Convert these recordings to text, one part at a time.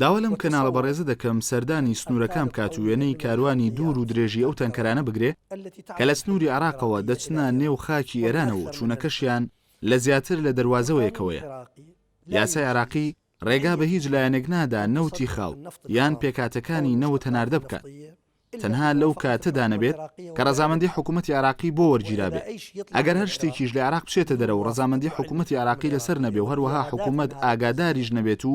داوا لەم کەناڵە بەڕێزە دەکەم سەردانی سنوورەکان بکات و وێنەی کاروانی دوور و درێژی ئەو تەنکەرانە بگرێ کە لە سنووری عێراقەوە دەچنە نێو خاکی ئێرانەوە و چوونەکەشیان لە زیاتر لە دەروازەوەیەکەوەیە. یاسای عێراقی ڕێگا بە هیچ لایەنێک نادا نەوتی خاو یان پێکهاتەکانی نەوت هەناردە بکات. تەنها لەو کاتەدا نەبێت کە ڕەزامەندی حکوومەتی عێراقی بۆ وەرگیرابێت. ئەگەر هەر شتێکیش لە عێراق بچێتە دەرەوە و ڕەزامەندی حکوومەتی عێراقی لەسەر نەبێ و هەروەها حکوومەت ئاگاداریش نەبێت و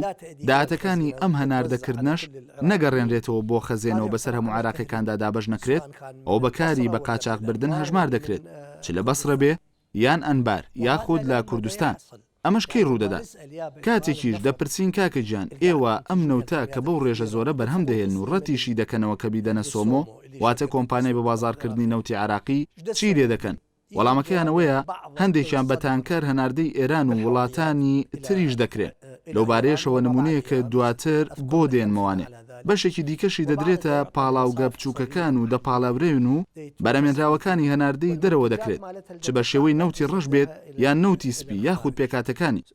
داهاتەکانی ئەم هەناردەکردنەش نەگەڕێنرێتەوە بۆ خەزێنە و بەسەر هەموو عێراقییەکاندا دابەش نەکرێت، ئەوە بە کاری بە قاچاخبردن هەژمار دەکرێت، چ لە بەسرە بێ، یان ئەنبار یاخود لە کوردستان ئەمەش کەی ڕوودەدات؟ کاتێکیش دەپرسین کاکە گیان ئێوە ئەم نەوتە کە بەو ڕێژە زۆرە بەرهەم دەهێنن و ڕەتیشی دەکەنەوە کە بیدەنە سۆمۆ واتە کۆمپانیای بەبازاڕکردنی نەوتی عێراقی چی لێ دەکەن؟ وەڵامەکەیان ئەوەیە هەندێکیان بە تانکەر هەناردەی ئێران و وڵاتانی تریش دەکرێن، لەوبارەیەشەوە نموونەیەکە دواتر بۆ دێنمەوانێ. بەشێکی دیکەشی دەدرێتە پاڵاوگە بچووکەکان و دەپاڵێورێن و بەرەمێنراوەکانی هەناردەی دەرەوە دەکرێت، چ بە شێوەی نەوتی ڕەش بێت یان نەوتی سپی یاخود پێکهاتەکانی.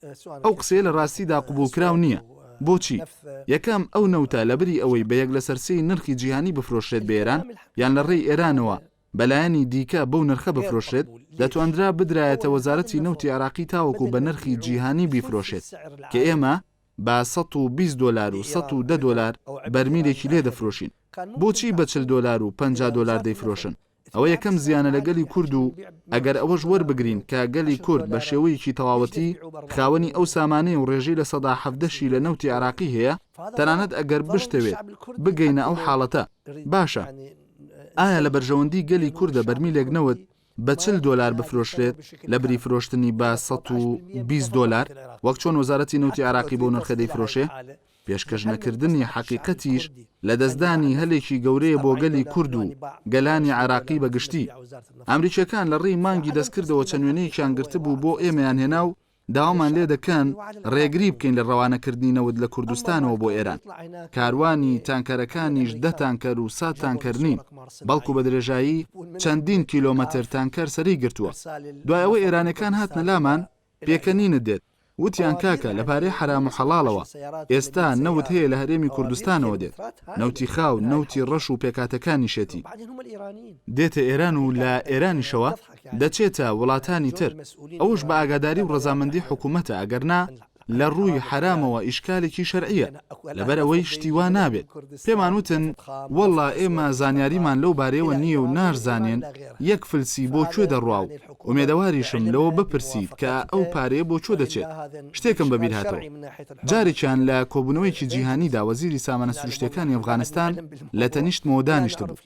ئەو قسەیە لە ڕاستیدا قبوڵکراو نییە. بۆچی؟ یەکەم، ئەو نەوتە لەبری ئەوەی بە یەک لەسەر سێی نرخی جیهانی بفرۆشرێت بە ئێران یان لە ڕێی ئێرانەوە بە لایەنی دیکە بەو نرخە بفرۆشرێت، دەتواندرا بدرایەتە وەزارەتی نەوتی عێراقی تاوەکو بە نرخی جیهانی بیفرۆشێت کە ئێمە بە سەد و بیست دۆلار و سەد و دە دۆلار بەرمیلێکی لێ دەفرۆشین بۆچی بە چل دۆلار و پەنجا دۆلار دەیفرۆشن ئەوە یەکەم زیانە لە گەلی کورد و ئەگەر ئەوەش وەربگرین کە گەلی کورد بە شێوەیەکی تەواوەتی خاوەنی ئەو سامانەیە و ڕێژەی لە سەدا حەڤدەشی لە نەوتی عێراقی هەیە تەنانەت ئەگەر بشتەوێت بگەینە ئەو حاڵەتە باشە ئایا لە بەرژەوەندی گەلی کوردە بەرمیلێک نەوت بە چل دۆلار بفرۆشرێت لەبری فرۆشتنی بە سەد و بیست دۆلار وەک چۆن وەزارەتی نەوتی عێراقی بەو نرخە دەیفرۆشێ، پێشکەش نەکردنی حەقیقەتیش لەدەستدانی هەلێکی گەورەیە بۆ گەلی کورد و گەلانی عێراقی بە گشتی. ئەمریکییەکان لە ڕێی مانگی دەستکردەوە چەند وێنەیەکیان گرتبوو بۆ ئێمەیان هێنا و داوامان لێ دەکەن رێگری بکەین لە رەوانەکردنی نەوت لە کوردستانەوە بۆ ئێران. کاروانی تانکەرەکانیش دە تانکەر و سەد تانکەر نین، بەڵکو بە درێژایی چەندین کیلۆمەتر تانکەر سەری گرتووە. دوای ئەوەی ئێرانیەکان هاتنە لامان، پێکەنینت دێت، وتیان کاکە لە پارەی حەرام و حەڵاڵەوە، ئێستا نەوت هەیە لە هەرێمی کوردستانەوە دێت، نەوتی خاو، نەوتی رەش و پێکهاتەکانیشێتی، دێتە ئێران و لە ئێرانیشەوە دەچێتە وڵاتانی تر ئەوەش بە ئاگاداری و ڕەزامەندی حکومەتە ئەگەر نا لە ڕووی حەرامەوە ئیشکالێکی شەرعیە لەبەر ئەوەی شتی وا نابێت پێمان وتن وەڵا ئێمە زانیاریمان لەو بارەیەوە نییە و ناشزانێن یەک فلسی بۆ کوێ دەڕوا و ئومێدەواریشم لەوە بپرسیت کە ئەو پارەیە بۆ کوێ دەچێت شتێکم بە بیرهاتەوە جارێکیان لە کۆبوونەوەیەکی جیهانیدا وەزیری سامانە سروشتیەکانی ئەفغانستان لە تەنیشتمەوە دانیشتبوو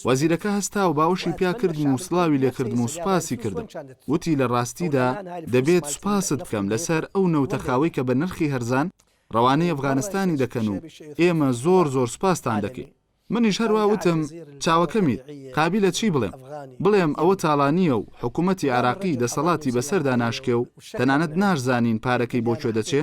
وەزیرەکە هەستا و باوەشی پیا کردم و سڵاوی لێ کردم و سوپاسی کردم. وتی لە ڕاستیدا دەبێت سوپاست بکەم لەسەر ئەو نەوتە خاوەی کە بە نرخی هەرزان ڕەوانەی ئەفغانستانی دەکەن و ئێمە زۆر زۆر سوپاستان دەکەین. منیش هەروا وتم چاوەکەمیت، قابیلە چی بڵێم؟ بڵێم ئەوە تاڵانییە و حکوومەتی عێراقی دەسەڵاتی بەسەردا ناشکێ و تەنانەت ناشزانین پارەکەی بۆ کوێ دەچێ؟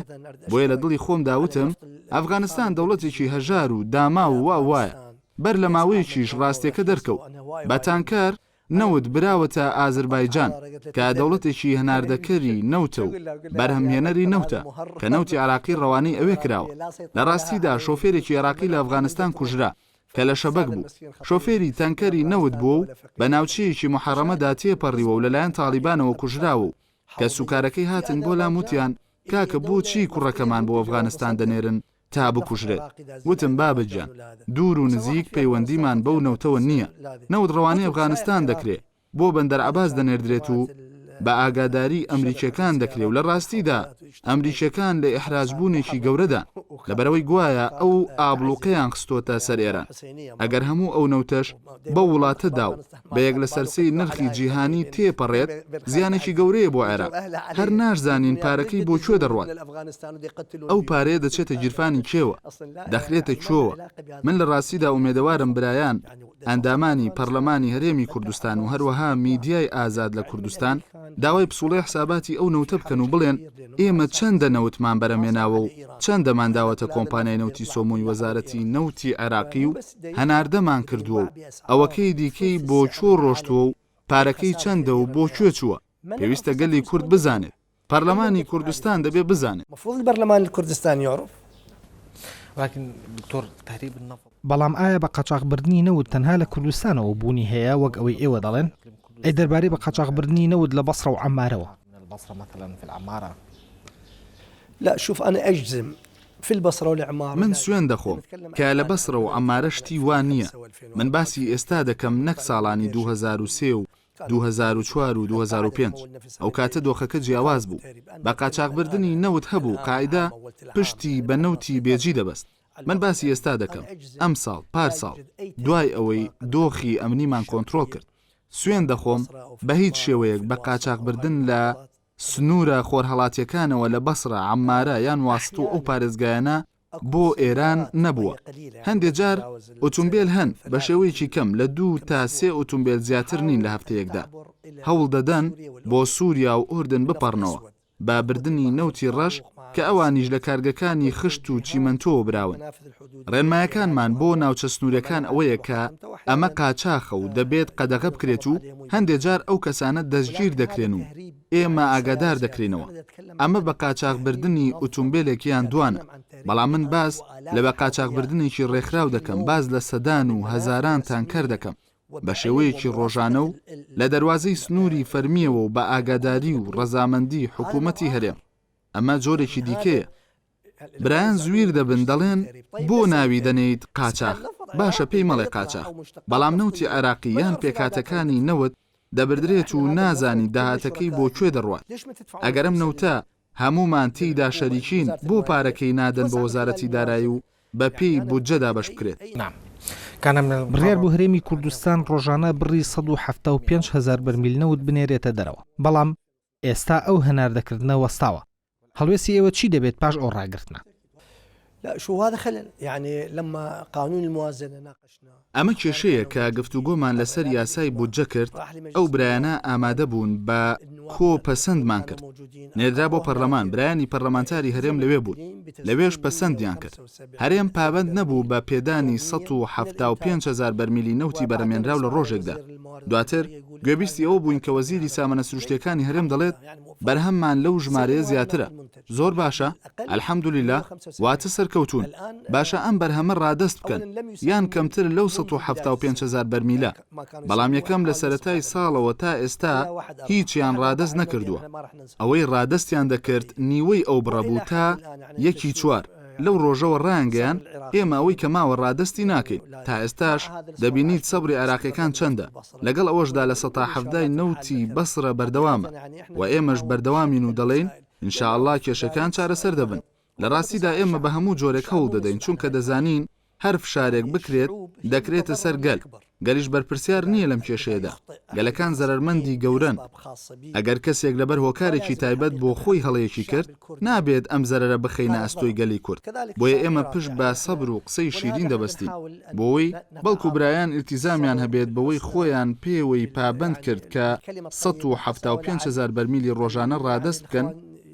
بۆیە لە دڵی خۆمدا وتم ئەفغانستان دەوڵەتێکی هەژار و داماو و وا و وایە. بەر لە ماوەیەکیش ڕاستیەکە دەرکەوت بە تانکەر نەوت براوەتە ئازربایجان کە دەوڵەتێکی هەناردەکەری نەوتە و بەرهەمهێنەری نەوتە کە نەوتی عێراقی ڕەوانەی ئەوێ کراوە. لە ڕاستیدا شۆفێرێکی عێراقی لە ئەفغانستان کوژرا کە لە شەبەک بوو شۆفێری تانکەری نەوت بووە و بە ناوچەیەکی موحەڕەمەدا تێپەڕیوە و لەلایەن تاڵیبانەوە کوژراوە و کەسوکارەکەی هاتن بۆ لام وتیان کاکە بۆچی کوڕەکەمان بۆ ئەفغانستان دەنێرن؟ تا بکوژرێت وتم بابە گیان دوور و نزیک پەیوەندیمان بەو نەوتەوە نییە نەوت ڕەوانەی ئەفغانستان دەکرێ بۆ بەندەر عەباس دەنێردرێت و بە ئاگاداری ئەمریکیەکان دەکرێ و لە ڕاستیدا ئەمریکیەکان لە ئیحراجبوونێکی گەورەدان لەبەرەوەی گوایە ئەو ئابڵوقەیان خستۆتە سەر ئێران ئەگەر هەموو ئەو نەوتەش بەو وڵاتەدا و بە یەک لەسەر سێی نرخی جیهانی تێپەڕێت، زیانێکی گەورەیە بۆ عێراق، هەر ناشزانین پارەکەی بۆ کوێ دەڕوات، ئەو پارەیە دەچێتە گیرفانی کێوە، دەخرێتە کوێوە، من لە ڕاستیدا ئومێدەوارم برایان ئەندامانی پەڕلەمانی هەرێمی کوردستان و هەروەها میدیای ئازاد لە کوردستان داوای پسوڵەی حساباتی ئەو نەوتە بکەن و بڵێن ئێمە چەندە نەوتمان بەرەمێناوە و چەندەمان داوەتە کۆمپانیای نەوتی سۆمۆی وەزارەتی نەوتی عێراقی و هەناردەمان کردووە و ئەوەکەی دیکەی بۆ کوێ ڕۆشتووە و پارەکەی چەندە و بۆ کوێ چووە، پێویستە گەلی کورد بزانێت، پەرلەمانی کوردستان دەبێت بزانێت. بەڵام ئایا بە قاچاخبردنی نەوت تەنها لە کوردستانەوە بوونی هەیە وەک ئەوەی ئێوە دەڵێن؟ ئەی دەربارەی بە قاچاخبردنی نەوت لە بەسڕە و عەممارەوە؟ فی البصرە و لعمارە. من سوێن دەخۆم کە لە بەسڕە و عەمارە شتی وا نییە، من باسی ئێستا دەکەم نەک ساڵانی دوو هەزار و سێ و دوو هەزار و چوار و دوو هەزار و پێنج، ئەو کاتە دۆخەکە جیاواز بوو، بە قاچاخبردنی نەوت هەبوو قاعیدە پشتی بە نەوتی بێجی دەبەست، من باسی ئێستا دەکەم ئەمساڵ پارساڵ دوای ئەوەی دۆخی ئەمنیمان کۆنترۆڵ کرد، سوێن دەخۆم بە هیچ شێوەیەک بە قاچاخبردن لە سنوورە خۆرهەڵاتییەکانەوە لە بەسرە، عەممارە یان واسط و ئەو پارێزگایانە بۆ ئێران نەبووە. هەندێ جار ئوتومبێل هەن، بە شێوەیەکی کەم لە دوو تا سێ ئوتومبێل زیاتر نین لە هەفتەیەکدا. هەوڵ دەدەن بۆ سووریا و ئوردن بپەڕنەوە، بە بردنی نەوتی ڕەش کە ئەوانیش لە کارگەکانی خشت و چیمەنتۆوە براون. ڕێنمایەکانمان بۆ ناوچە سنووریەکان ئەوەیە کە ئەمە قاچاخە و دەبێت قەدەغە بکرێت و هەندێ جار ئەو کەسانە دەستگیر دەکرێن و ئێمە ئاگادار دەکرێنەوە ئەمە بە قاچاخبردنی ئوتومبیلێک یان دوانە بەڵام من باس لە بە قاچاخبردنێکی ڕێکخراو دەکەم باز لە سەدان و هەزاران تانکەر دەکەم بە شێوەیەکی ڕۆژانە و لە دەواازەی سنووری فەرمیەوە و بە ئاگاداری و ڕەزامەندی حکوومەتی هەرێم ئەمە جۆرێکی دیکەیە برایان زویر دەبن دەڵێن بۆ ناوی دەنێیت قاچاخ باشە پێی مەڵێ قاچاخ بەڵام نەوتی عێراقی یان پێکهاتەکانی نەوت دەبردرێت و نازانی داهاتەکەی بۆ کوێ دەڕوات ئەگەر ئەم نەوتە هەموومان تێیدا شەریکین بۆ پارەکەی نادەن بە وەزارەتی دارایی و بە پێی بودجە دابەش بکرێت. بڕیار بوو هەرێمی کوردستان ڕۆژانە بڕی سەد و حەفتا و پێنج هەزار بەرمیل نەوت بنێرێتە دەرەوە، بەڵام ئێستا ئەو هەناردەکردنە وەستاوە. هەڵوێستی ئێوە چی دەبێت پاش ئەو ڕاگرتنە؟ ئەمە کێشەیە کە گفتوگۆمان لەسەر یاسای بودجە کرد، ئەو برایانە ئامادە بوون بە کۆ پەسەندمان کرد. نێردرا بۆ پەرلەمان، برایانی پەرلەمانتاری هەرێم لەوێ بوون. لەوێش پەسەندیان کرد. هەرێم پابەند نەبوو بە پێدانی سەد و حەفتا و پێنج هەزار بەرمیلی نەوتی بەرەمێنراو لە رۆژێکدا. دواتر گوێبیستی ئەوە بووین کە وەزیری سامانە سروشتییەکانی هەرێم دەڵێت، بەرهەممان لەو ژمارەیە زیاترە. زۆر باشە، الحمدللە، واتە سەرکەوتوون. باشە ئەم بەرهەمە رادەست بکەن، یان کەمتر لەو سەد و حەفتا و پێنج هەزار بەرمیلە. بەڵام یەکەم لە سەرەتای ساڵەوە تا ئێستا هیچیان ڕادەست نەکردووە، ئەوەی ڕادەستیان دەکرد نیوەی ئەو بڕە بوو تا یەکی چوار، لەو ڕۆژەوە ڕایانگەیاند ئێمە ئەوەی کە ماوە ڕادەستی ناکەین، تا ئێستاش دەبینیت سەبری عێراقییەکان چەندە، لەگەڵ ئەوەشدا لە سەتا حەڤدای نەوتی بەسڕە بەردەوامە و ئێمەش بەردەوامین و دەڵێین ان شاءاللە کێشەکان چارەسەر دەبن. لە ڕاستیدا ئێمە بە هەموو جۆرێک هەوڵ دەدەین، چونکە دەزانین هەر فشارێک بکرێت دەکرێتە سەر گەل، گەلیش بەرپرسیار نییە لەم کێشەیەدا، گەلەکان زەرەرمەندی گەورەن، ئەگەر کەسێک لەبەر هۆکارێکی تایبەت بۆ خۆی هەڵەیەکی کرد، نابێت ئەم زەرەرە بخەینە ئەستۆی گەلی کورد، بۆیە ئێمە پشت بە سەبر و قسەی شیرین دەبەستین، بۆوەی بەڵکو برایان ئیلتیزامیان هەبێت بەوەی خۆیان پێوەی پابەند کرد کە سەد و حەفتا و پێنج هەزار بەرمیلی ڕۆژانە ڕادەست بکەن،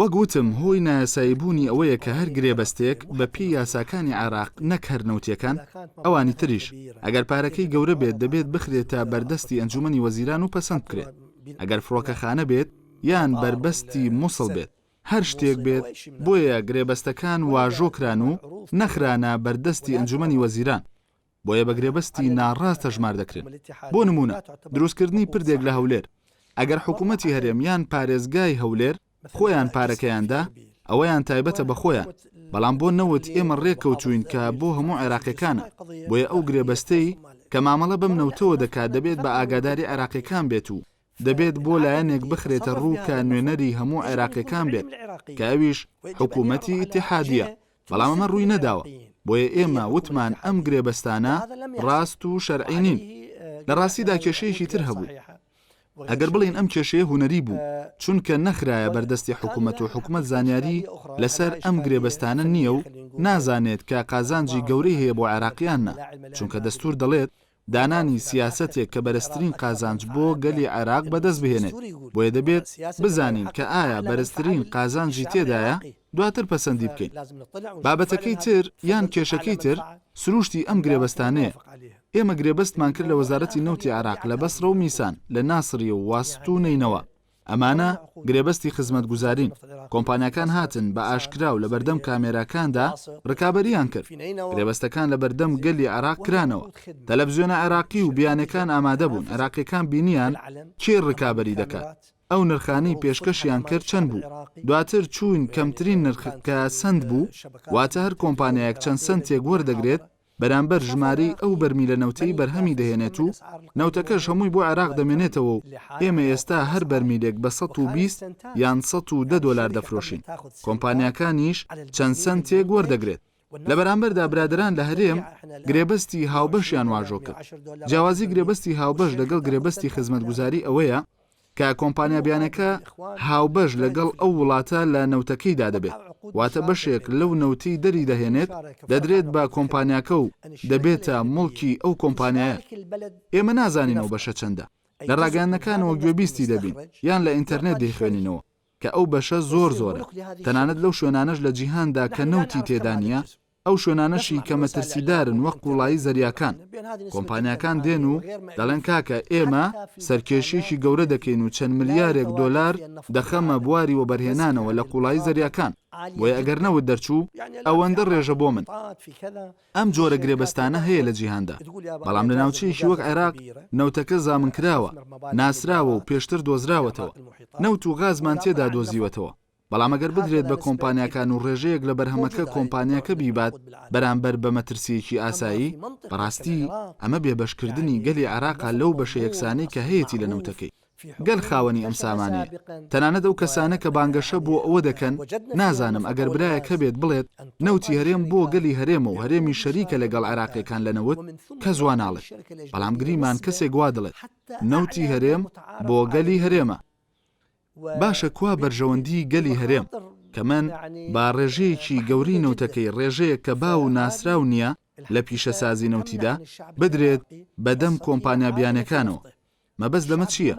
وەک وتم هۆی نایاسایی بوونی ئەوەیە کە هەر گرێبەستێک بە پێی یاساکانی عێراق نەک هەر نەوتییەکان، ئەوانی تریش، ئەگەر پارەکەی گەورە بێت دەبێت بخرێتە بەر دەستی ئەنجوومەنی وەزیران و پەسەند بکرێت. ئەگەر فڕۆکەخانە بێت یان بەربەستی موسڵ بێت، هەر شتێک بێت، بۆیە گرێبەستەکان واژۆ کران و نەخرانە بەر دەستی ئەنجوومەنی وەزیران. بۆیە بە گرێبەستی ناڕاست تەژمار دەکرێن. بۆ نموونە دروستکردنی پردێک لە هەولێر، ئەگەر حکوومەتی هەرێم یان پارێزگای هەولێر خۆیان پارەکەیان دا، ئەوەیان تایبەتە بە خۆیان، بەڵام بۆ نەوت ئێمە ڕێک کەوتووین کە بۆ هەموو عێراقییەکانە، بۆیە ئەو گرێبەستەی کە مامەڵە بەم نەوتەوە دەکات دەبێت بە ئاگاداری عێراقییەکان بێت و دەبێت بۆ لایەنێک بخرێتە ڕوو کە نوێنەری هەموو عێراقیەکان بێت کە ئەویش حکوومەتی ئیتیحادیە، بەڵام ئەمە ڕووی نەداوە، بۆیە ئێمە وتمان ئەم گرێبەستانە ڕاست و شەرعی نین. لە ڕاستیدا کێشەیەکی تر هەبوو. ئەگەر بڵێین ئەم کێشەیە هونەری بوو، چونکە نەخرایە بەردەستی حکوومەت و حکومەت زانیاری لەسەر ئەم گرێبەستانە نییە و نازانێت کە قازانجی گەورەی هەیە بۆ عێراقیان نا، چونکە دەستوور دەڵێت، دانانی سیاسەتێک کە بەرزترین قازانج بۆ گەلی عێراق بەدەست بهێنێت، بۆیە دەبێت بزانین کە ئایا بەرزترین قازانجی تێدایە، دواتر پەسەندی بکەین. بابەتەکەی تر یان کێشەکەی تر سرووشتی ئەم گرێبەستانەیە. ئێمە گرێبەستمان کرد لە وەزارەتی نەوتی عێراق لە بەسڕە و میسان، لە ناسڕیە و واسط و نەینەوا. ئەمانە گرێبەستی خزمەتگوزارین، کۆمپانیاکان هاتن بە ئاشکرا و لەبەردەم کامێراکاندا رکابەرییان کرد، گرێبەستەکان لەبەردەم گەلی عێراق کرانەوە، تەلەفزیۆنە عێراقی و بیانیەکان ئامادە بوون، عێراقیەکان بینیان کێ رکابەری دەکات، ئەو نرخانەی پێشکەشیان کرد چەند بوو، دواتر چووین کەمترین نرخ کە سەنت بوو، واتە هەر کۆمپانیایەک چەند سەنتێک وەردەگرێت، بەرامبەر ژمارەی ئەو بەرمیلە نەوتەی بەرهەمی دەهێنێت و نەوتەکەش هەمووی بۆ عێراق دەمێنێتەوە و ئێمە ئێستا هەر بەرمیلێک بە سەد و بیست یان سەد و دە دۆلار دەفرۆشین، کۆمپانیاکانیش چەند سەنتێک وەردەگرێت. لە بەرامبەردا برادەران لە هەرێم گرێبەستی هاوبەشیان واژۆ کرد. جیاوازی گرێبەستی هاوبەش لەگەڵ گرێبەستی خزمەتگوزاری ئەوەیە، کە کۆمپانیا بیانەکە هاوبەش لەگەڵ ئەو وڵاتە لە نەوتەکەیدا دەبێت، واتە بەشێک لەو نەوتەی دەریدەهێنێت دەدرێت بە کۆمپانیاکە و دەبێتە موڵکی ئەو کۆمپانیایە. ئێمە نازانین ئەو بەشە چەندە، لە راگەیاندنەکانەوە گوێبیستی دەبین یان لە ئینتەرنێت دەیخوێنینەوە کە ئەو بەشە زۆر زۆرە، تەنانەت لەو شوێنانەش لە جیهاندا کە نەوتی تێدا نییە، ئەو شوێنانەشی کە مەترسیدارن وەک قوڵایی زەریاکان، کۆمپانیاکان دێن و دەڵێن کاکە ئێمە سەرکێشییەکی گەورە دەکەین و چەند ملیارێک دۆلار دەخەمە بواری وەبەرهێنانەوە لە قوڵایی زەریاکان، بۆیە ئەگەر نەوت دەرچوو ئەوەندە ڕێژە بۆ من. ئەم جۆرە گرێبەستانە هەیە لە جیهاندا، بەڵام لە ناوچەیەکی وەک عێراق نەوتەکە زامنکراوە، ناسراوە و پێشتر دۆزراوەتەوە، نەوت و غازمان تێدا دۆزیوەتەوە. بەڵام ئەگەر بدرێت بە کۆمپانیاکان و ڕێژەیەک لە بەرهەمەکە کۆمپانیاکە بیبات بەرامبەر بە مەترسییەکی ئاسایی، بەڕاستی ئەمە بێبەشکردنی گەلی عێراقە لەو بەشە یەکسانەی کە هەیەتی لە نەوتەکەی. گەل خاوەنی ئەم سامانەیە. تەنانەت ئەو کەسانە کە بانگەشە بۆ ئەوە دەکەن، نازانم ئەگەر برایەک هەبێت بڵێت نەوتی هەرێم بۆ گەلی هەرێمە و هەرێمیش شەریکە لەگەڵ عێراقییەکان لە نەوت، کەس وا ناڵێت. بەڵام گریمان کەسێک وا دڵێت نەوتی هەرێم بۆ گەلی هەرێمە. باشە کوا بەرژەوەندی گەلی هەرێم؟ کە من با ڕێژەیەکی گەورەی نەوتەکەی ڕێژەیەک کە باو و ناسراو نییە لە پیشەسازی نەوتیدا، بدرێت بە دەم کۆمپانیا بیانیەکانەوە. مەبەست لەمە چییە؟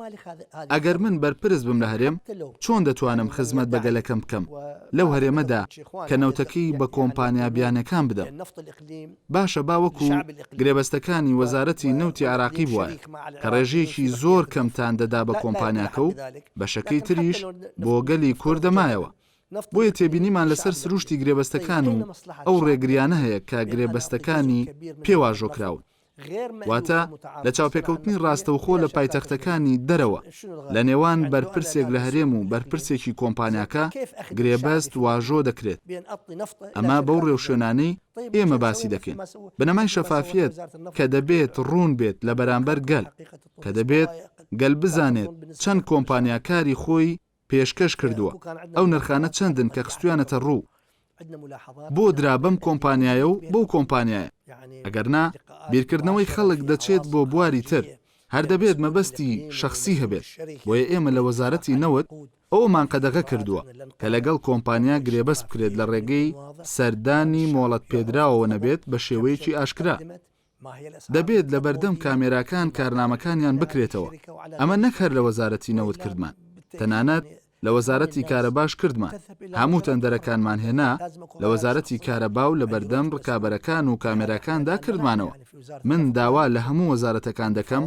ئەگەر من بەرپرس بم لە هەرێم، چۆن دەتوانم خزمەت بە گەلەکەم بکەم لەو هەرێمەدا کە نەوتەکەی بە کۆمپانیا بیانیەکان بدەم؟ باشە با وەکو گرێبەستەکانی وەزارەتی نەوتی عێراقی بوایە کە ڕێژەیەکی زۆر کەمتان دەدا بە کۆمپانیاکە و بەشەکەی تریش بۆ گەلی کورد دەمایەوە، بۆیە تێبینیمان لەسەر سروشتی گرێبەستەکان و ئەو ڕێگریانە هەیە کە گرێبەستەکانی پێ واژۆکراون. واتە لە چاوپێکەوتنی ڕاستەوخۆ لە پایتەختەکانی دەرەوە لە نێوان بەرپرسێک لە هەرێم و بەرپرسێکی کۆمپانیاکە گرێبەست واژۆ دەکرێت ئەمە بەو ڕێوشوێنانەی ئێمە باسی دەکەین بنەمای شەفافیت کە دەبێت ڕوون بێت لە بەرامبەر گەل کە دەبێت گەل بزانێت چەند کۆمپانیاکاری خۆی پێشکەش کردووە ئەو نرخانە چەندن کە خستویانەتە ڕوو بۆ درا بەم کۆمپانیایە و بەو کۆمپانیایە ئەگەر نا بیرکردنەوەی خەڵک دەچێت بۆ بواری تر هەر دەبێت مەبەستی شەخسی هەبێت بۆیە ئێمە لە وەزارەتی نەوت ئەوەمان قەدەغە کردووە کە لەگەڵ کۆمپانیا گرێبەست بکرێت لە ڕێگەی سەردانی مۆڵەت پێدراوەوە نەبێت بە شێوەیەکی ئاشکرا. دەبێت لەبەردەم کامێراکان کارنامەکانیان بکرێتەوە، ئەمە نەک هەر لە وەزارەتی نەوت کردمان، تەنانەت لە وەزارەتی کارەباش کردمان، هەموو تەندەرەکانمان هێنا لە وەزارەتی کارەبا و لەبەردەم ڕکابەرەکان و کامێراکاندا کردمانەوە، من داوا لە هەموو وەزارەتەکان دەکەم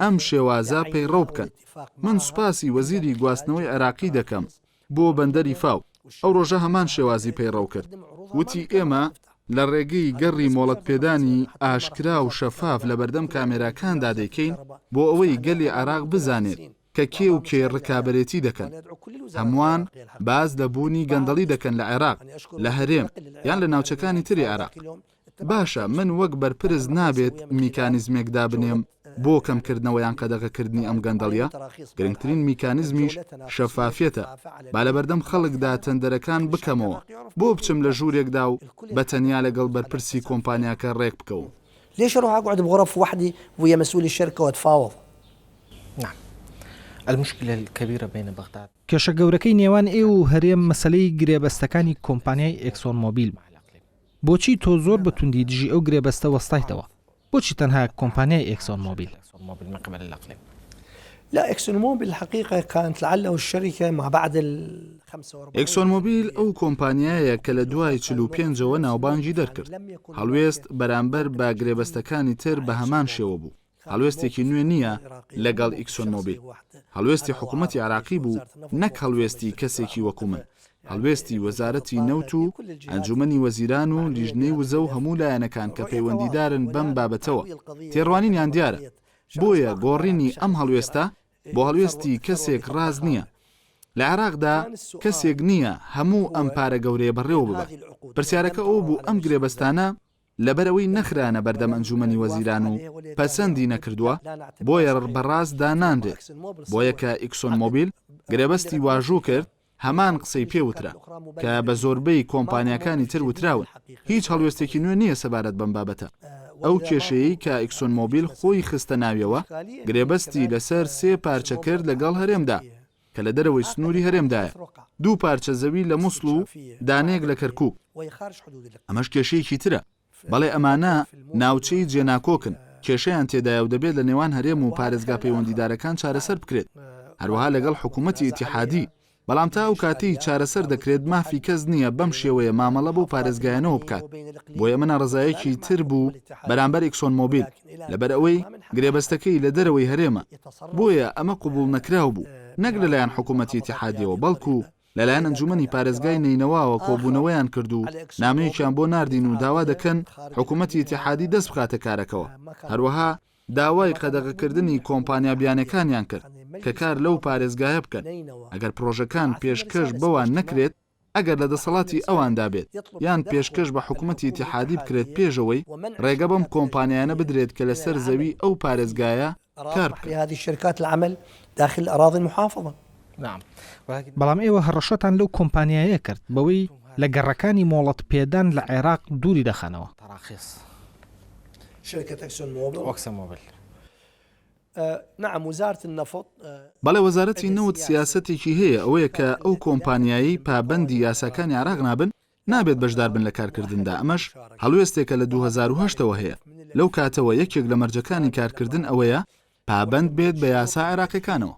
ئەم شێوازە پەیڕەو بکەن، من سوپاسی وەزیری گواستنەوەی عێراقی دەکەم، بۆ بەندەری فاو، ئەو ڕۆژە هەمان شێوازی پەیڕەو کرد، وتی، ئێمە لە ڕێگەی گەڕی مۆڵەتپێدانی ئاشکرا و شەفاف لە بەردەم کامێراکاندا دەیکەین بۆ ئەوەی گەلی عێراق بزانێت کە کێ و کێ ڕکابەرێتی دەکەن. هەمووان باس لە بوونی گەندەڵی دەکەن لە عێراق، لە هەرێم یان لە ناوچەکانی تری عێراق. باشە من وەک بەرپرس نابێت میکانیزمێک دابنێم بۆ کەمکردنەوە یان قەدەغەکردنی ئەم گەندەڵیە؟ گرنگترین میکانیزمیش شەفافیەتە، با لەبەردەم خەڵکدا تەندەرەکان بکەمەوە، بۆ بچم لە ژوورێکدا و بە تەنیا لەگەڵ بەرپرسی کۆمپانیاکە رێک بکەوم؟ ليش اروح اقعد بغرف وحدي ويا مسؤول الشركة واتفاوض؟ نعم المشكلة الكبيرة بين بغداد. کێشە گەورەکەی نێوان ئێوە و هەرێم مەسەلەی گرێبەستەکانی کۆمپانیای ئێکسۆن مۆبیل بوو. بۆچی تۆ زۆر بە توندی دژی ئەو گرێبەستە وەستایتەوە؟ بۆچی تەنها کۆمپانیای ئێکسۆن مۆبیل؟ لا اکسون موبل الحقیقە کانت لعله الشرکە ما بعد الخمسە و اربعین ئێکسۆن مۆبیل ئەو کۆمپانیایە کە لە دوای چل و پێنجەوە ناوبانگی دەرکرد. هەڵوێست بەرامبەر بە گرێبەستەکانی تر بە هەمان شێوە بوو. هەڵوێستێکی نوێ نییە لەگەڵ ئیکسۆن مۆبیل. هەڵوێستی حکوومەتی عێراقی بوو نەک هەڵوێستی کەسێکی وەکوو من. هەڵوێستی وەزارەتی نەوت و ئەنجوومەنی وەزیران و لیژنەی وزە و هەموو لایەنەکان کە پەیوەندیدارن بەم بابەتەوە، تێڕوانینیان دیارە. بۆیە گۆڕینی ئەم هەڵوێستە بۆ هەڵوێستی کەسێک ڕاست نییە. لە عێراقدا کەسێک نییە هەموو ئەم پارە گەورەیە بەڕێوە ببات. پرسیارەکە ئەوە بوو ئەم گرێبەستانە، لەبەرئەوەی نەخرانە بەردەم ئەنجومەنی وەزیران و پەسەندی نەکردووە بۆیە ڕ بە ڕاست دانانرێت بۆیە کە ئیکسۆن مۆبیل گرێبەستی واژوو کرد هەمان قسەی پێ وترا کە بە زۆربەی کۆمپانیاکانی تر وتراون هیچ هەڵوێستێکی نوێ نییە سەبارەت بەم بابەتە ئەو کێشەیەی کە ئیکسۆن مۆبیل خۆی خستە ناویەوە گرێبەستی لەسەر سێ پارچە کرد لەگەڵ هەرێمدا کە لە دەرەوەی سنووری هەرێمدایە، دوو پارچە زەوی لە موسڵ و دانەیەک لە کەرکووک. ئەمەش کێشەیەکی ترە. بەڵێ ئەمانە ناوچەی جێناکۆکن، کێشەیان تێدایە و دەبێت لە نێوان هەرێم و پارێزگا پەیوەندیدارەکان چارەسەر بکرێت، هەروەها لەگەڵ حکوومەتی ئیتیحادی، بەڵام تا ئەو کاتەی چارەسەر دەکرێت مافی کەس نییە بەم شێوەیە مامەڵە بەو پارێزگایانەوە بکات، بۆیە ئەمە ناڕەزایەکی تر بوو بەرامبەر ئیکسۆن مۆبیل. لەبەرئەوەی گرێبەستەکەی لە دەرەوەی هەرێمە، بۆیە ئەمە قبوڵنەکراو بوو، نەک لەلایەن حکوومەتی ئیتیحادییەوە، بەڵکو لەلایەن ئەنجوومەنی پارێزگای نەینەواوە کۆبوونەوەیان کرد و نامەیەکیان بۆ ناردین و داوا دەکەن حکوومەتی ئیتیحادی دەست بخاتە کارەکەوە. هەروەها داوای قەدەغەکردنی کۆمپانیا بیانییەکانیان کرد کە کار لەو پارێزگایە بکەن، ئەگەر پڕۆژەکان پێشکەش بەوان نەکرێت، ئەگەر لە دەسەڵاتی ئەواندا بێت، یان پێشکەش بە حکومەتی ئیتیحادی بکرێت پێشەوەی ڕێگە بەم کۆمپانیایانە بدرێت کە لەسەر زەوی ئەو پارێزگایە کار بکەن. بەڵام ئێوە هەڕەشەتان لەو کۆمپانیایە کرد بەوەی لە گەڕەکانی مۆڵەت پێدان لە عێراق دووری دەخەنەوە. نعم وزارت النفط. بەڵێ وەزارەتی نەوت سیاسەتێکی هەیە ئەوەیە کە ئەو کۆمپانیایەی پابەندی یاساکانی عێراق نابن نابێت بەشدار بن لە کارکردندا ئەمەش هەڵوێستێکە لە دوو هەزار و هەشت ەوە هەیە لەو کاتەوە یەکێک لە مەرجەکانی کارکردن ئەوەیە پابەند بێت بە یاسا عێراقیەکانەوە.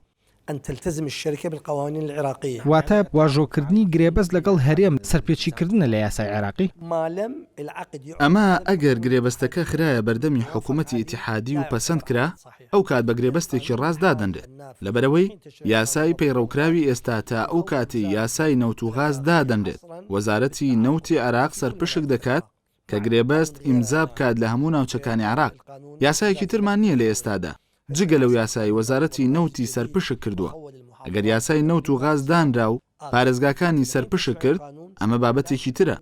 ان تلتزم الشرکە بالقوانین العراقیە. واتە، واژۆکردنی گرێبەست لەگەڵ هەرێم سەرپێچیکردنە لە یاسای عێراقی؟ مالم العقد يعقد ئەمە ئەگەر گرێبەستەکە خرایە بەردەمی حکومەتی ئیتیحادی و پەسەند کرا، ئەو کات بە گرێبەستێکی ڕاست دادەنرێت، لەبەرئەوەی یاسای پەیڕەوکراوی ئێستا تا ئەو کاتەی یاسای نەوت و غاز دادەنرێت، وەزارەتی نەوتی عێراق سەرپشک دەکات، کە گرێبەست ئیمزا بکات لە هەموو ناوچەکانی عێراق. یاسایەکی ترمان نییە لە ئێستادا، جگە لەو یاسایەی وەزارەتی نەوتی سەرپشک کردووە. ئەگەر یاسای نەوت و غاز دانرا و پارێزگاکانی سەرپشک کرد، ئەمە بابەتێکی ترە.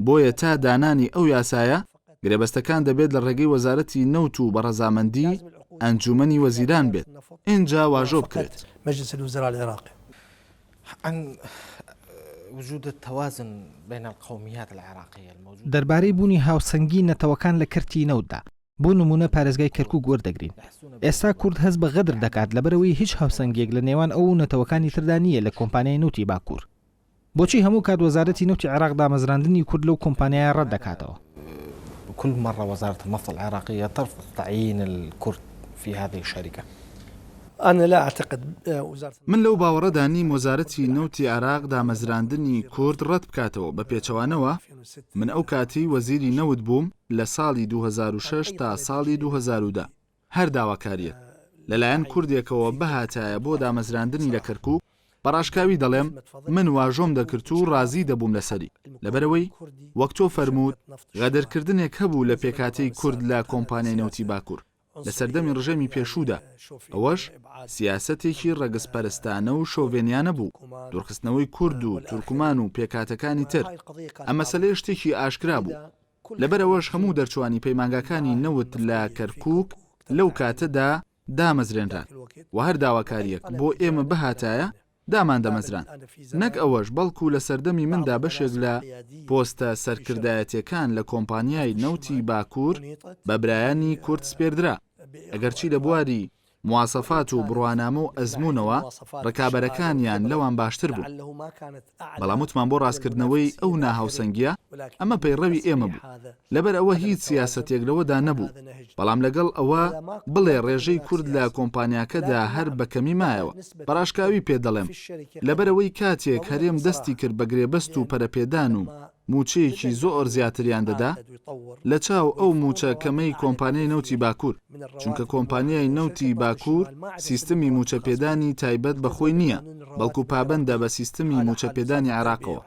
بۆیە تا دانانی ئەو یاسایە، گرێبەستەکان دەبێت لە ڕێگەی وەزارەتی نەوت و بە ڕەزامەندیی ئەنجوومەنی وەزیران بێت، ئینجا واژۆ بکرێت. دەربارەی بوونی هاوسەنگی نەتەوەکان لە کەرتی نەوتدا، بۆ نموونە پارێزگای کەرکووک وەردەگرین. ئێستا کورد هەست بە غەدر دەکات لەبەرئەوەی هیچ هاوسەنگییەک لە نێوان ئەو و نەتەوەکانی تردا نییە لە کۆمپانیای نەوتی باکوور. بۆچی هەموو کات وەزارەتی نەوتی عێراق دامەزراندنی کورد لەو کۆمپانیایە ڕەت دەکاتەوە؟ کل مەڕە وەزارەت النفط العراقیە تەرفض تعین الکورد فی هذه الشەریکە. انا لا اعتقد وزارة. من لەو باوەڕەدا نیم وەزارەتی نەوتی عێراق دامەزراندنی کورد ڕەت بکاتەوە، بە پێچەوانەوە من ئەو کاتەی وەزیری نەوت بووم لە ساڵی دوو هەزار و شەش تا ساڵی دوو هەزار و دە، هەر داواکاریەک لەلایەن کوردێکەوە بهاتایە بۆ دامەزراندنی لە کەرکوک، بە ڕاشکاوی دەڵێم من واژۆم دەکرد و ڕازی دەبووم لەسەری، لەبەرئەوەی وەک تۆ فەرمووت غەدرکردنێک هەبوو لە پێکهاتەی کورد لە کۆمپانیای نەوتی باکور لە سەردەمی ڕژێمی پێشوودا، ئەوەش سیاسەتێکی ڕەگزپەرستانە و شۆڤێنیانە بوو، دوورخستنەوەی کورد و تورکمان و پێکهاتەکانی تر، ئەم مەسەلەیە شتێکی ئاشکرا بوو. لەبەرئەوەش هەموو دەرچوانی پەیمانگاکانی نەوت لە کەرکوک لەو کاتەدا دامەزرێنران و هەر داواکارییەک بۆ ئێمە بهاتایە داماندەمەزراند، نەک ئەوەش بەڵکو لە سەردەمی مندا بەشێک لە پۆستە سەرکردایەتیەکان لە کۆمپانیای نەوتی باکور بە برایانی کورد سپێردرا، ئەگەرچی لە بواری مواسەفات و بڕوانامە و ئەزموونەوە ڕکابەرەکانیان لەوان باشتر بوو، بەڵام وتمان بۆ ڕاستکردنەوەی ئەو ناهاوسەنگییە ئەمە پەیڕەوی ئێمە بوو، لەبەر ئەوە هیچ سیاسەتێک لەوەدا نەبوو، بەڵام لەگەڵ ئەوە بڵێ ڕێژەی کورد لە کۆمپانیاکەدا هەر بە کەمی مایەوە، بە ڕاشکاوی پێت دەڵێم، لەبەرئەوەی کاتێک هەرێم دەستی کرد بە گرێبەست و پەرەپێدان و. مووچەیەکی زۆر زیاتریان دەدا لە چاو ئەو مووچە کەمەی کۆمپانیای نەوتی باکوور، چونکە کۆمپانیای نەوتی باکوور سیستمی مووچە پێدانی تایبەت بە خۆی نییە، بەڵکو پابەندە بە سیستمی مووچە پێدانی عێراقەوە.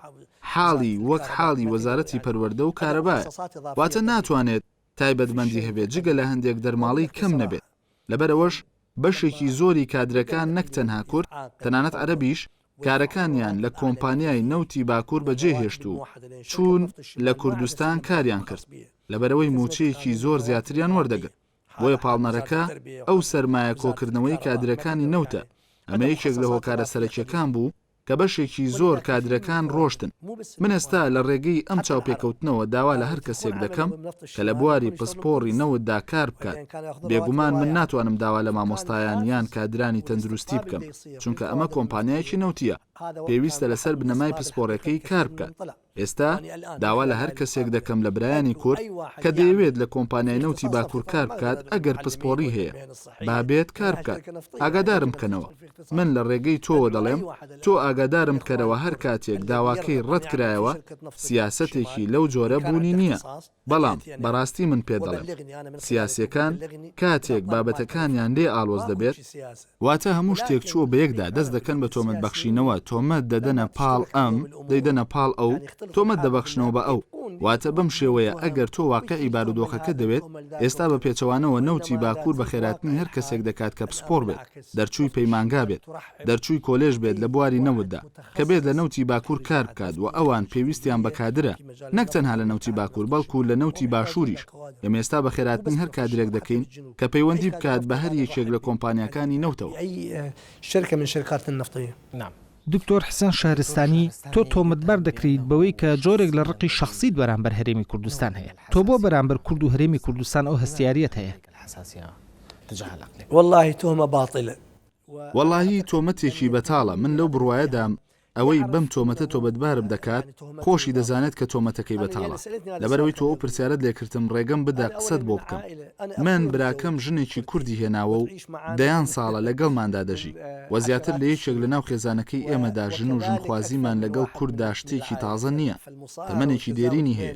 حاڵی وەک حاڵی وەزارەتی پەروەردە و کارەبایە، واتە ناتوانێت تایبەتمەندی هەبێت جگە لە هەندێک دەرماڵەی کەم نەبێت، لەبەرئەوەش بەشێکی زۆری کادرەکان نەک تەنها کورد، تەنانەت عەرەبیش کارەکانیان لە کۆمپانیای نەوتی باکوور بەجێهێشت و چوون لە کوردستان کاریان کرد، لەبەرئەوەی مووچەیەکی زۆر زیاتریان وەردەگرت، بۆیە پاڵنەرەکە ئەو سەرمایە کۆکردنەوەی کادرەکانی نەوتە، ئەمە یەکێک لە هۆکارە سەرەکیەکان بوو کە بەشێکی زۆر کادرەکان ڕۆشتن، من ئێستا لە ڕێگەی ئەم چاوپێکەوتنەوە داوا لە هەر کەسێک دەکەم کە لە بواری پسپۆڕی نەوتدا کار بکات، بێگومان من ناتوانم داوا لە مامۆستایان یان کادرانی تەندروستی بکەم. چونکە ئەمە کۆمپانیایەکی نەوتییە، پێویستە لەسەر بنەمای پسپۆڕیەکەی کار بکات، ئێستا داوا لە هەر کەسێک دەکەم لە برایانی کورد کە دەیەوێت لە کۆمپانیای نەوتی باکور کار بکات ئەگەر پسپۆڕی هەیە با بێت کار بکات ئاگادارم بکەنەوە، من لە ڕێگەی تۆوە دەڵێم تۆ ئاگادارم بکەرەوە هەر کاتێک داواکەی ڕەت کرایەوە سیاسەتێکی لەو جۆرە بوونی نییە. بەڵام بەڕاستی من پێت دەڵێم سیاسیەکان کاتێک بابەتەکانیان لێ ئاڵۆز دەبێت، واتە هەموو شتێک چووە بەیەکدا دەست دەکەن بە تۆمەت بەخشینەوە تۆمەت دەدەنە پاڵ ئەم دەیدەنە پاڵ ئەو تۆمەت دەبەخشنەوە بە ئەو واتە بەم شێوەیە ئەگەر تۆ واقعی بارودۆخەکە دەوێت ئێستا بە پێچەوانەوە نەوتی باکوور بە خێراتنی هەر کەسێک دەکات کە پسپۆڕ بێت دەرچووی پەیمانگا بێت دەرچووی کۆلێژ بێت لە بواری نەوتدا کە بێت لە نەوتی باکوور کار بکات و ئەوان پێویستیان بە کادرە، نەک تەنها لە نەوتی باکوور بەڵکو لە نەوتی باشووریش، ئێمە ئێستا بە خێراتنی هەر کادرێک دەکەین کە پەیوەندی بکات بە هەر یەکێک لە کۆمپانیاکانی نەوتەوە. دکتۆر حسێن شەهرستانی، تۆ تۆمەتبار دەکرێیت بەوەی کە جۆرێک لە ڕقی شەخسیت بەرامبەر هەرێمی کوردستان هەیە، تۆ بۆ بەرامبەر کورد و هەرێمی کوردستان ئەو هەستیاریەت هەیە؟ وەڵاهی تۆمەتێکی بەتاڵە من لەو بڕوایەدام ئەوەی بەم تۆمەتە تۆبەتبارم دەکات خۆشی دەزانێت کە تۆمەتەکەی بەتاڵە لەبەرئەوەی تۆ ئەو پرسیارەت لێکردم ڕێگەم بدە قسەت بۆ بکەم من براکەم ژنێکی کوردی هێناوە و دەیان ساڵە لەگەڵماندا دەژی وە زیاتر لە یەکێک لەناو خێزانەکەی ئێمەدا ژن و ژنخوازیمان لەگەڵ کورددا شتێکی تازە نییە تەمەنێکی دێرینی هەیە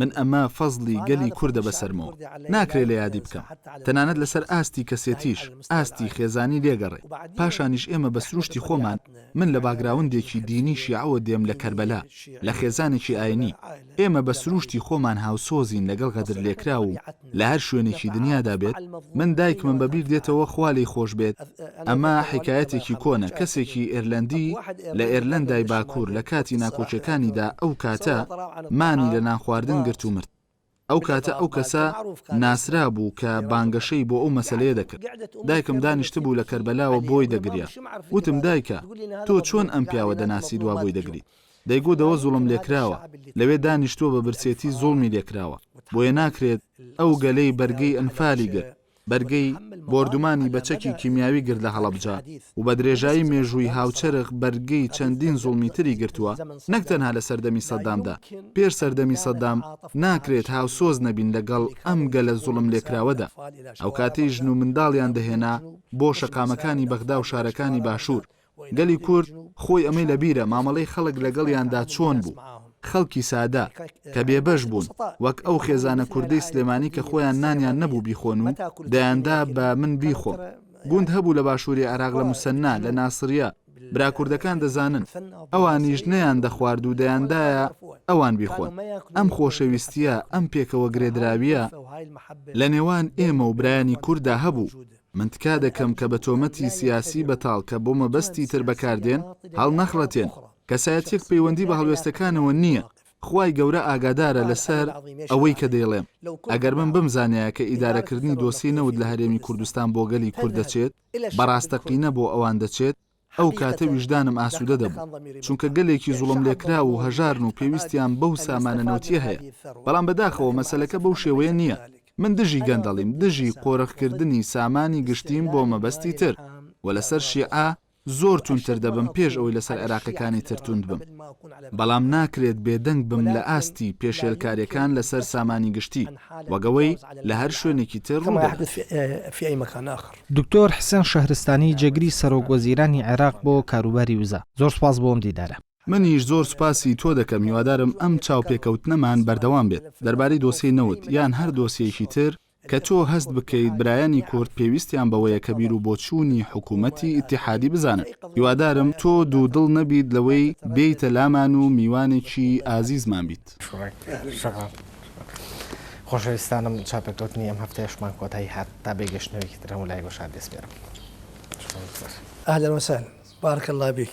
من ئەمە فەزڵی گەلی کوردە بەسەرمەوە ناکرێ لە یادی بکەم تەنانەت لەسەر ئاستی کەسێتیش ئاستی خێزانی لێگەڕێ پاشانیش ئێمە بە سروشتی خۆمان من لە باگراوندێکی دینی شیعەوە دێم لە کەربەلا لە خێزانێکی ئاینی ئێمە بە سروشتی خۆمان هاوسۆزین لەگەڵ غەدرلێکراو و لە هەر شوێنێکی دنیادا بێت من دایکمم بە بیر دێتەوە خوا لی خۆش بێت ئەمە حکایەتێکی کۆنە کەسێکی ئێرلەندی لە ئێرلەندای باکوور لە کاتی ناکۆکیەکانیدا ئەو کاتە مانی لە نانخواردن گرت و مرد ئەو کاتە ئەو کەسە ناسرا بوو کە بانگەشەی بۆ ئەو مەسلەیە دەکرد دایکم دانیشت بوو لە کەربەلاوە بۆی دەگریا وتم دایکە تۆ چۆن ئەم پیاوە دەناسی دوا بۆی دەگریت دەیگوت ئەوە زوڵم لێکراوە، لەوێ دانیشتووە بە برسێتی زوڵمی لێکراوە، بۆیە ناکرێت ئەو گەلەی بەرگەی ئەنفالی گرت، بەرگەی بۆردومانی بە چەکی کیمیاوی گرت لە هەڵەبجە و بە درێژایی مێژووی هاوچەرخ بەرگەی چەندین زوڵمی تری گرتووە، نەک تەنها لە سەردەمی سەدامدا، پێش سەردەمی سەدام ناکرێت هاوسۆز نەبین لەگەڵ ئەم گەلە زوڵم لێکراوەدا. ئەوکاتەی ژن و منداڵیان دەهێنا بۆ شەقامەکانی بەغدا و شارەکانی باشوور، گەلی کورد خۆی ئەمەی لە بیرە مامەڵەی خەڵک لەگەڵیاندا چۆن بوو، خەڵکی سادە، کە بێبەش بوون، وەک ئەو خێزانە کوردەی سلێمانی کە خۆیان نانیان نەبوو بیخۆن و دەیاندا بە من بیخۆم. گوند هەبوو لە باشووری عێراق لە موسەننا، لە ناسریە، برا کوردەکان دەزانن، ئەوانیش نەیاندەخوارد و دەیاندایە ئەوان بیخۆن. ئەم خۆشەویستییە، ئەم پێکەوە گرێدراوییە لە نێوان ئێمە و برایانی کورددا هەبوو. من تکا دەکەم کە بە تۆمەتی سیاسی بەتاڵ کە بۆ مەبەستی تر بەکاردێن، هەڵنەخڵەتێن، کەسایەتیەک پەیوەندی بە هەڵوێستەکانەوە نییە، خوای گەورە ئاگادارە لەسەر ئەوەی کە دەیڵێم، ئەگەر من بمزانیایە کە ئیدارەکردنی دۆسیەی نەوت لە هەرێمی کوردستان بۆ گەلی کورد دەچێت، بە ڕاستەقینە بۆ ئەوان دەچێت، ئەو کاتە ویژدانم ئاسوودە دەبوو، چونکە گەلێکی زوڵملێکراو و هەژارن و پێویستیان بەو سامانە نەوتییە هەیە، بەڵام بەداخەوە مەسەلەکە بەو شێوەیە نییە. من دژی گەندەڵیم، دژی قۆرخکردنی سامانی گشتیم بۆ مەبەستی تر و لەسەر شیعە زۆر توندتر دەبم پێش ئەوەی لەسەر عێراقییەکانی تر توند بم، بەڵام ناکرێت بێدەنگ بم لە ئاستی پێشێلکارییەکان لەسەر سامانی گشتی، وەک ئەوەی لە هەر شوێنێکی تر ڕوودەدات. دکتۆر حسێن شەهرستانی جێگری سەرۆک وەزیرانی عێراق بۆ کاروباری وزە، زۆر سپاس بۆ ئەم دیدارە. منیش زۆر سوپاسی تۆ دەکەم، هیوادارم ئەم چاوپێکەوتنەمان بەردەوام بێت دەربارەی دۆسیەی نەوت یان هەر دۆسیەیەکی تر کە تۆ هەست بکەیت برایانی کورد پێویستیان بەوەیە کە بیرو بۆچوونی حکوومەتی ئیتیحادی بزانن. هیوادارم تۆ دوودڵ نەبیت لەوەی بێیتە لامان و میوانێکی ئازیزمان بیت. بکات. خۆشەویستانم چاپێکەوتنی ئەم هەفتەیەشمان کۆتایی هات تا بێ گەشتنەوەیەکی تر هەموو لای گۆشار دەسپێرم. اهلا وسهلا بارک اللە بیک.